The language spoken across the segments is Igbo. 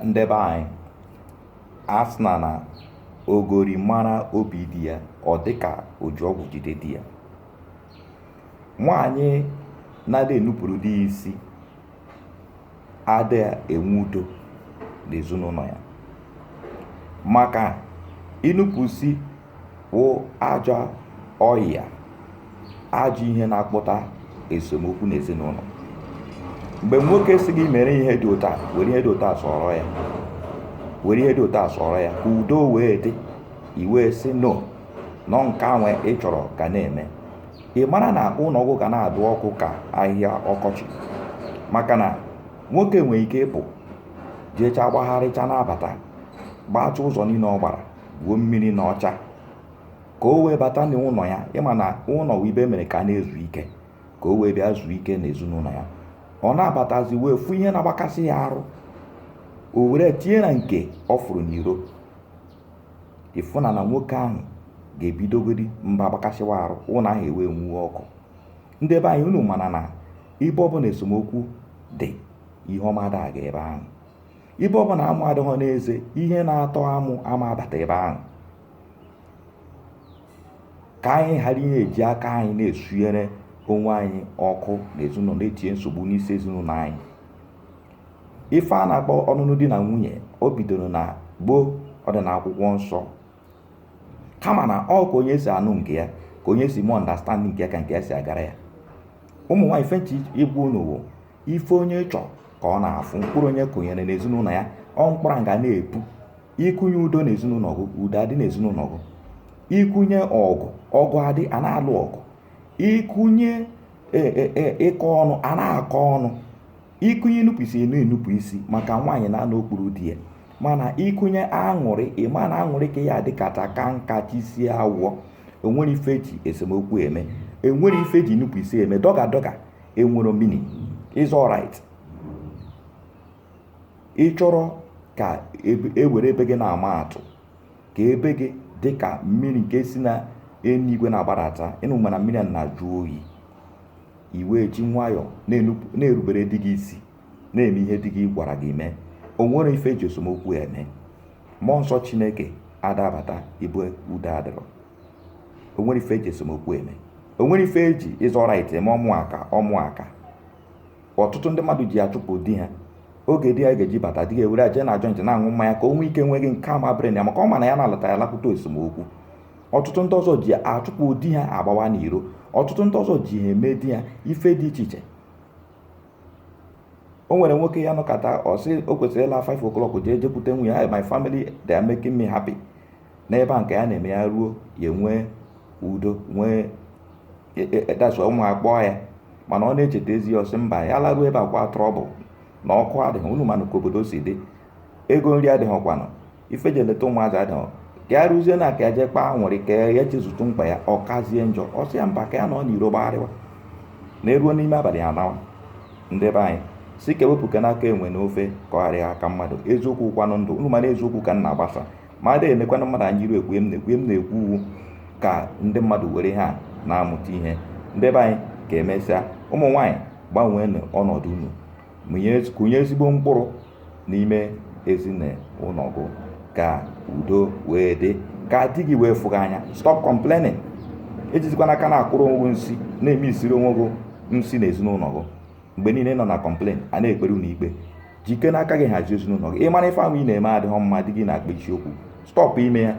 ndị be anyị asịna na ogori mara obi di ya ọ dịka o ji ọgwụ jide di ya nwaanyị na-adị enupụrụ di ya isi adịghị enwe udo n'ezinụlọ ya maka inupụsi wụ ajọ ọyịa ajọ ihe na-akpụta esemokwu n'ezinụlọ mgbe nwoke sị gị mere ihe dị otu a were ihe dị otu a sọrọ ya were ihe dị otu a sọrọ ya ka udo wee dị i wee sị no na ọ nke onwe ị chọrọ ka ị na-eme ị mara na ụlọ gị ga na-adụ ọkụ ka ahịhịa ọkọchị maka na nwoke nwere ike ịpụ jecha gbagharịcha na-abata gbaacha ụzọ niile ọ gbara gwuo mmiri na ọcha ka o wee bata n'ụlọ ya ị ma na ụlọ wụ ibe e mere ka a na-ezu ike ka o wee bịa zuo ike na ezinụlọ ya ọ na-abatazi wee fụ ihe na-agbakasị ya arụ o were tinye na nke ọ fụrụ n'iro ị fụna na nwoke ahụ ga-ebidogodi mba agbakasịwa arụ ụlọ ahụ ewee nwuo ọkụ ndị be anyị unu mana na ibe ọbụla esemokwu dị ihe ọma ada aga ebe ahụ ibe ọ bụla amụ adịghọ n'eze ihe na-atọ amụ ama abata ebe ahụ ka anyị ghara ịna-eji aka anyị na-esunyere onwe anyị ọkụ na ezinụlọ na-etinye nsogbu n'isi ezinụlọ anyị ife a na-akpọ ọnụnụ di na nwunye o bidoro na gboo ọ dị na akwụkwọ nsọ kama na ọ ka onye si anụ nke ya ka onye si mụ understand nke ya ka nke ya si agara ya ụmụ nwaanyị ife m chọ ịgwa unu ife onye chọ ka ọ na-afụ mkpụrụ onye kụnyere n'ezinụlọ ya ọ mkpụrụ ga na-epu ị kụnye udo n'ezinụlọ gị udo adị n'ezinụlọ gị ị kụnye ọgụ ọgụ adị a na-alụ ọgụ ị kụnye e, e, e, ịkọ ọnụ a na-akọ ọnụ ị kụnye inupụ isi a na-enupụ isi maka nwaanyị na-anọ okpuru di ya mana ị kụnye aṅụrị ị ma na aṅụrị ka ya dịkacha kaa nka chaa isi awọ enwere ife eji esemokwu eme enwere ife eji inupụ isi eme dọga dọga enwero meaning is alright ị chọrọ ka ewere ebe gị na-ama atụ ka ebe gị dị ka mmiri nke si na eluigwe na-agbadata unu ma na mmiri na-ajụ oyi i wee ji nwayọọ na-erubere di gị isi na-eme ihe di gị gwara gị mee o nwere ife eji esemokwu eme mmụọ nsọ chineke ada abata ibe udo adịrọ o nwere ife eji esemokwu eme o nwere ife eji ịzọ right eme ọ bụ ya ka ọtụtụ ndị mmadụ ji achụpụ di ha oge di ya ga-eji bata di ga-ewere eje na joint na-aṅụ mmanya ka o nwee ike nweghị nke ama brain ya maka ọ ma na ya na-alata ya lakwute esemokwu ọtụtụ ndị ọzọ ji achụpụ di ha agbawa n'iro ọtụtụ ndị ọzọ ji ha eme di ha ife dị iche iche o nwere nwoke ya nọkata ọ sị o kwesịrị ịla 5 o'clock jee jekwute nwunye ya my family they are making me happy n'ebe a nke ya na-eme ya ruo ya nwee udo nwee dasụ e, e, e, ụmụ akpọọ ya mana ọ na-echeta ezi ya ọ sị mba ya laruo ebe ọ kwa trouble na ọkụ adịghị unu manụ ka obodo si dị ego nri adịghịkwanụ ife ji eleta ụmụazị adịghị ka ya rụzie na ka ya jee kpaa nwere ike ya chezọtụ mkpa ya ọ kazie njọ ọ sị ya mba ka ya nọ n'iro gbagharịwa na eruo n'ime abalị ya nawa ndị be anyị sị ka ewepụkwanụ aka enwe n'ofe ka ọ ghara ịghọ aka mmadụ eziokwu kwanụ dị inu mana eziokwu ka m na-agbasa m ada enekwanụ mmadụ anya n'iru ekwu m na-ekwu m na-ekwu ọ wụ ka ndị mmadụ were ha na-amụta ihe ndị be anyị ka emesịa ụmụ nwaanyị gbanwee ọnọdụ unu kụnye ezigbo mkpụrụ n'ime ezinụlọ gụ ka udo wee dị ka di gị wee fụ gị n'anya stop complaining ejizikwana aka na-akọrọ onwe gị nsi na-eme isiri onwe gị nsi n'ezinụlọ gị mgbe niile nọ na complain a na-ekpere unu ikpe jikene aka gị hazie ezinụlọ gị ị mara ife ahụ ị na-eme adịghị mma di gị na-akpa isiokwu stọpụ ime ya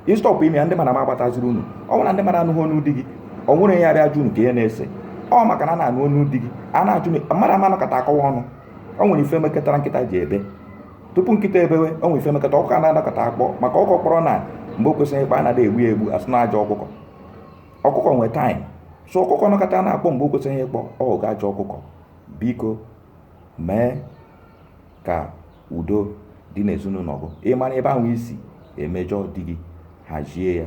ị stọpụ ime ya ndị mmadụ ama agbataziri unu ọ bụrụ na ndị mmadụ anụghị ọnụ di gị o nwere ya bịa jụ unu ka ihe na-ese ọ maka na a na-anụ ọnụ di gị a na-ajụ mmadụ ama nọkata akọwa ọnụ o nwere ife mekatara nkịta ji ebe tupu nkịta ebewe o nwere ife mekata ọkụkọ a na-anọkata akpọ maka ọkụkọ kpọrọ na mgbe o kwesịghị ịkpọ a na-egbu ya egbu a sị na ọ ajọ ọkụkọ ọkụkọ nwee time so ọkụkọ nọkata na-akpọ mgbe o kwesịghị ịkpọ ọ bụkwa ajọ ọkụkọ biko mee ka udo dị n'ezinụlọ gị ị mara ebe ahụ i si emejọ di gị hazie ya